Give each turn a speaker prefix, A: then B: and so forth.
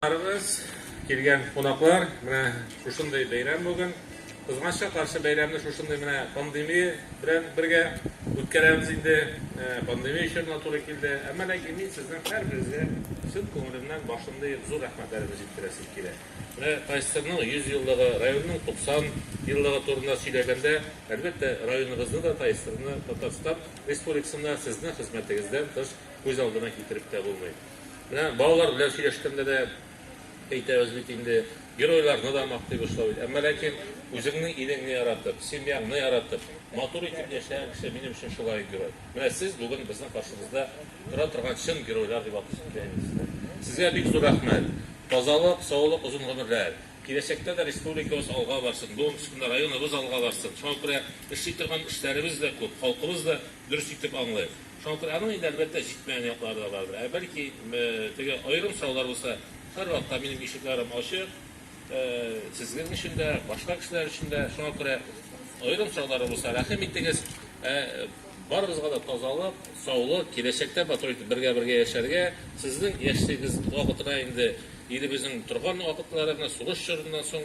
A: Карагыз, килгән кунаклар, менә шушындый бәйрәм бүген. Кызганча каршы бәйрәмне шушындый менә пандемия белән бергә үткәрәбез инде. Пандемия чорына туры килде. Әмма ләкин мин сезнең һәрберегезгә чын күңелемнән башымны иеп зур рәхмәтләремне җиткерәсем килә. Менә Тайсырның 100 еллыгы, районның 90 еллыгы турында сөйләгәндә, әлбәттә, районыбызны да, Тайсырны, Татарстан Республикасында сезнең хезмәтегездән тыш күз алдына китереп тә булмый. Менә балалар белән сөйләшкәндә дә әйтәбез бит инде, геройларны да мактыйбыз шулай бит. Әмма ләкин үзеңнең илеңне яратып, семьяңны яратып, матур итеп яшәгән кеше минем өчен шулай герой. Менә сез бүген безнең каршыбызда тора торган чын геройлар дип атыйсы килә инде сезне. Сезгә бик зур рәхмәт. Тазалык, саулык, озын гомерләр. Киләчәктә дә республикабыз алга барсын, бүген төшкәндә районыбыз алга барсын. Шуңа күрә эшли торган эшләребез дә күп, халкыбыз да дөрес итеп аңлый. Шалтыраның инде, әлбәттә, җитмәгән яклары да бардыр. Ә бәлки, теге аерым сораулар булса, һәрвакытта минем ишекләрем ачык, сезнең өчен дә, башка кешеләр өчен дә. Шуңа күрә аерым сораулар булса, рәхим итегез. Ә барыбызга да тазалык, саулык, киләчәктә матур итеп бергә-бергә яшәргә, сезнең яшьлегегез вакытына инде, илебезнең торган вакытлары, менә сугыш чорыннан соң,